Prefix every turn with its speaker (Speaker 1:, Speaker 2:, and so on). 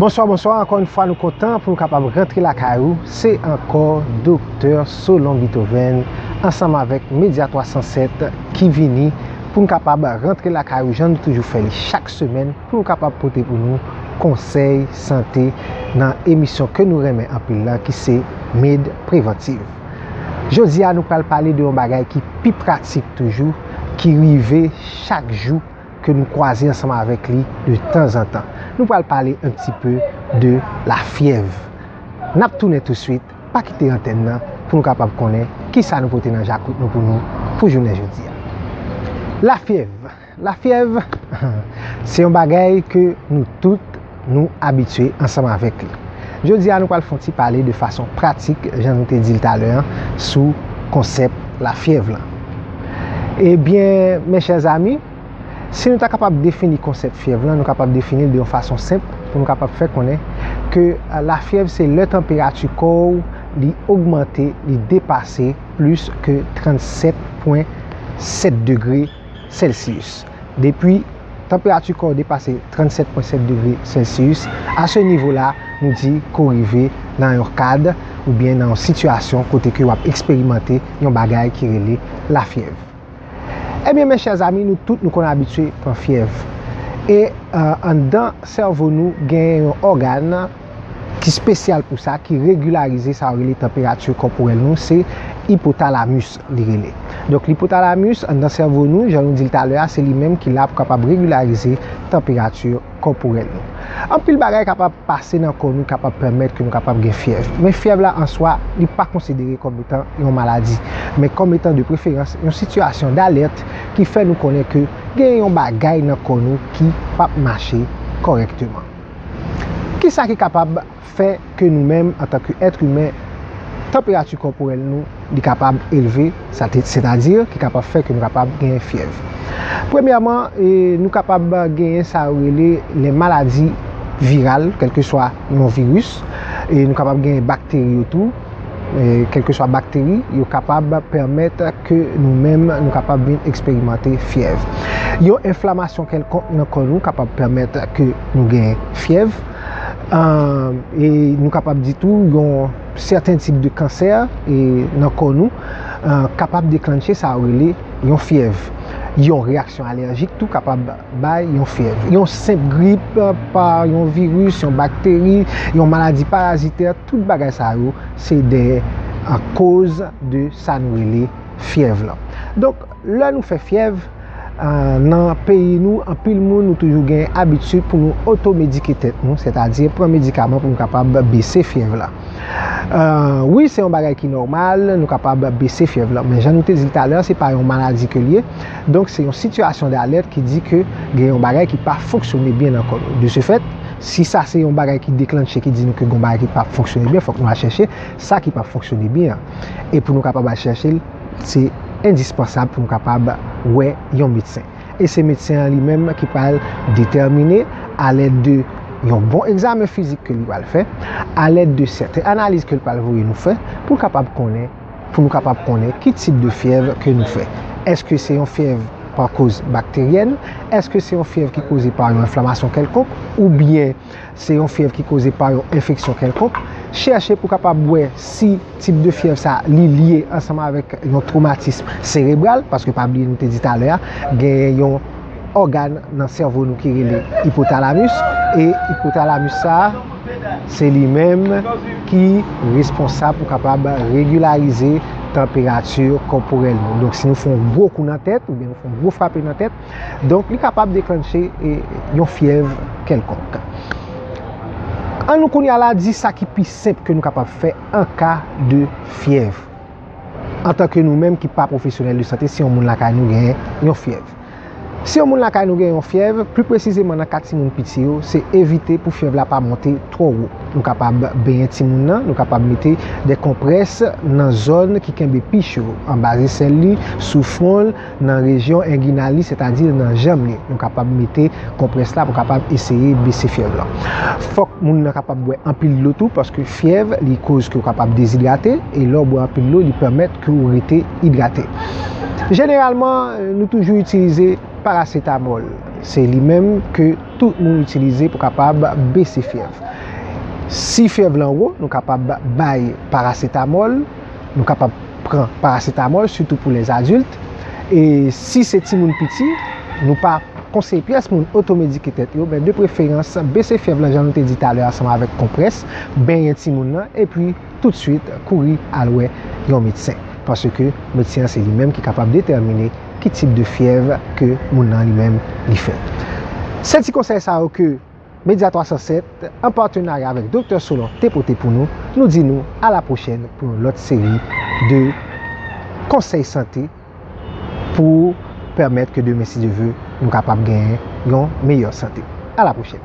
Speaker 1: Bonswa bonswa ankò yon fwa nou kontan pou nou kapab rentre la kay ou se ankò Doktè Solon Beethoven ansanm avèk Media 307 ki vini pou nou kapab rentre la kay ou jan nou toujou fè li chak semèn. pou yo kapab pote pou nou konsèy sante nan emisyon ke nou renmen anpil la ki se Med Preventive. Jodi a nou pral pale de yon bagay ki pi pratik toujou ki rive chak jou ke nou kwaze ansanm avèk li de tanzantan. Nou pral pale un pti peu de la fyèv. Nap tounen tou swit, pa kite antèn nan pou nou kapab konnen kisa nou pote nan jakout nou pou nou pou jounen jodi a. La fyèv. La fyèv se yon bagay ke nou tout nou abitye ansanm avèk li. Jodi a nou pral fon ti pale de fason pratik jan nou te di l talè an sou konsèp la fyèv lan. Ebyen mes chers amis, si nou ta kapab defini konsèp fyèv lan nou kapab defini l de yon fason senp pou nou kapab fè konnen ke la fyèv se lè tanperati kò ou li ogmante, li depase plis ke 37 pwen 7 degre. sèlsiyis. Depi tanperati kò w depase 37 pwen 7 degre sèlsiyis, a se nivo la nou di ke w rive nan yon kad oubyen nan yon sitiyasyon kote ke w ap eksperimante yon bagay ki rele lafyèv. Ebyen mes chers amis nou tout nou konn abitye pran fyèv e anndan sèvo nou genyen yon ògàn ki spesyal pou sa ki regilarize sa yo rele tanperati kòporèl nou se ipotalamus. li rele. Donk l'ipothalamus anndan sèvo nou, jan nou di l talè a, se li menm ki la pou kapab regularize tanperati kòporèl nou. Anpil bagay kapab pase nan kò nou kapab pèmèt ke nou kapab gen fyèv. Men fyèv la an swa, li pa konsidere kòm etan yon maladi. Men kòm etan de preferans yon sitiyasyon d'alèrt ki fè nou konnen ke gen yon bagay nan kò nou ki pap mache kòrèkteman. Kisa ki kapab fè ke nou menm antan ke èt imen, tanperati kòporèl nou li kapab elve, sètadi ki kapab fè ke nou kapab genyen fyèv. Premyèman, nou kapab genyen sa yo rele lè maladi viral, kèlkeswa yon viris, e nou kapab genyen bakteri yo tou, kèlkeswa bakteri, yo kapab pèmèt ke nou menm nou kapab vin eksperimante fyèv. Yon enflamasyon kèlkonk nan kò nou kapab pèmèt ke nou genyen fyèv. E nou kapab di tou yon sèten tip de kansè nan kò nou kapab deklanche sa yo rele yon fyèv. Yon reyaksyon alèjik tou kapab bay yon fyèv. Yon senp grip pa yon viris, yon bakteri, yon maladi parazitè, tout bagay sa yo se de koz de sa nou rele fyèv lan. Lè nou fè fyèv, nan peyi nou, anpil moun nou toujou gen abitid pou nou otomedike tèt nou, sètadi pran medikaman pou nou kapab bese fyèv la. Wi, se yon bagay ki nòmal, nou kapab bese fyèv la. Men jan nou te di l talè, se pa yon maladi ke l ye. Donk, se yon sitiyasyon d'alèt ki di ke gen yon bagay ki pa fonksyone byen nan kò nou. De se fèt, si sa se yon bagay ki deklannche, ki di nou ke gen yon bagay ki pa fonksyone byen, fòk nou al chèche sa ki pa fonksyone byen an. E pou nou kapab al chèche l. Se endispansab pou m kapab wè yon medsen. E se medsen an li menm ki pral detèmine alèd de yon bon egzamen fizik ke li pral fè, alèd de sèten analiz ke li pral voye nou fè pou l kapab konnen, pou nou kapab konnen ki tip de fyèv ke nou fè. Eske se yon fyèv pa koz bakteryèn? Eske se yon fyèv ki koze pa yon enflamasyon kèlkonk? Oubyen. se yon fyèv ki koze pa yon enfeksyon kèlkonk, chèche pou kapab wè si tip de fyèv sa li lye ansanm avèk yon twomatism serebral, paske pa bliye nou te di talè a, genyen yon ògàn nan sèvo nou ki rele ipotalamus, e ipotalamus sa, se li menm ki responsab pou kapab regilarize tanperati kòporèl nou. Donk si nou fon gwo kou nan tèt, oubyen nou fon gwo frape nan tèt, Donk li kapab deklanche yon fyèv kèlkonk. An nou kounye a la di sa ki pi senp ke nou kapab fè an ka de fyèv. Antanke nou menm ki pa pwofesyonèl de sante si yon moun lakay nou gen yon fyèv. Si yon moun lakay nou gen yon fyèv, pli presizeman nan ka timoun piti yo, se evite pou fyèv la pa monte twò wo. Nou kapab benyen timoun nan, nou kapab mete de konprès nan zòn ki kenbe pi cho, anba zesèl li, sou fwon l. nan rejyon engina li, sètadi nan janm li. Nou kapab mete konprès la pou kapab eseye bese fyèv lan. Fòk moun nan kapab bwè anpil dlo tou paske fyèv li koz ke w kapab dezidrate e lè w bwè anpil dlo li pèmèt ke w rete idrate. Jeneralman nou toujou itilize parasetamòl. Se li menm ke tout moun itilize pou kapab bese fyèv. Si fyèv lan wo nou kapab bay parasetamòl. nou kapab pran paracetamol sitou pou les adultes e si se timoun piti nou pa konseye pyès moun otomedike tèt yo men de preferans bese fyèv lan jan nou te di talè ansanm avèk konprès benyen timoun lan epi tout swit kouri al wè yon medsen paske medsen an se li menm ki kapab detèmine ki tip de fyèv ke moun lan li menm li fè se ti konsèy sa yo ke Media 307, an patenarya avèk Doktè Solon te pote pou nou, nou di nou a la pwochèn pou yon lòt seri de konsèy sante pou pèmèt ke demen si Dye ve nou kapab genyen yon meyè sante. A la pwochèn!